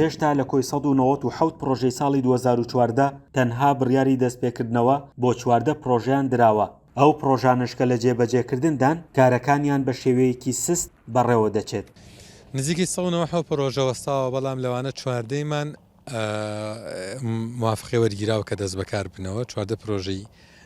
هێشتا لە کۆی سەد و نەوەد و حەوت پڕۆژەی ساڵی دوو هەزار و چواردە تەنها بڕیاری دەستپێکردنەوە بۆ چواردە پڕۆژەیان دراوە، ئەو پڕۆژانەش کە لە جێبەجێکردندان کارەکانیان بە شێوەیەکی سست بەڕێوەدەچێت. نزیکەی سەد و نەوەد و حەوت پڕۆژە وەستاوە، بەڵام لەوانە چواردەیمان موافقەی وەرگیراوە کە دەستبەکارببنەوە، چواردە پڕۆژەی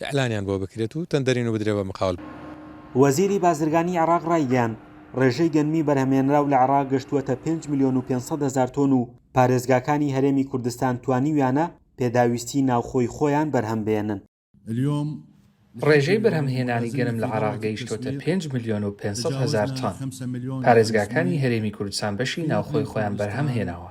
ئیعلانیان بۆ بکرێت و تەندەرین و بدرێ بە مقاول. وەزیری بازرگانی عێراق رایگەیاند، رێژەی گەنمی بەرهەمهێنراو لە عێراق گەشتووەتە پێنج ملیۆن و پێنج سەد هەزار تۆن و پارێزگاکانی هەرێمی کوردستان توانیویانە پێداویستیی ناوخۆی خۆیان بەرهەمبێنن. رێژەی بەرهەمهێنانی گەنم لە عێراق گەیشتووەتە پێنج ملیۆن و پێنج سەد هەزار تۆن، پارێزگاکانی هەرێمی کوردستان بەشی ناوخۆی خۆیان بەرهەمهێناوە.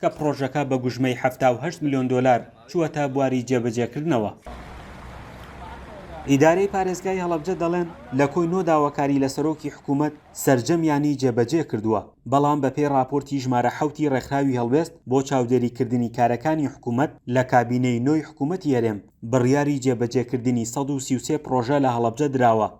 کە پڕۆژەکە بە گوژمەی حەفتا و هەشت ملیۆن دۆلار چووەتە بواری جێبەجێکردنەوە. ئیدارەی پارێزگای هەڵەبجە دەڵێن، لە کۆی نۆ داواکاری لە سەرۆکی حکوومەت سەرجەمیانی جێبەجێ کردووە، بەڵام بەپێی ڕاپۆرتی ژمارە حەوتی ڕێکخراوی هەڵوێست بۆ چاودێریکردنی کارەکانی حکوومەت لە کابینەی نۆی حکوومەتی هەرێم، بڕیاری جێبەجێکردنی سەد و سی و سێ پڕۆژە لە هەڵەبجە دراوە.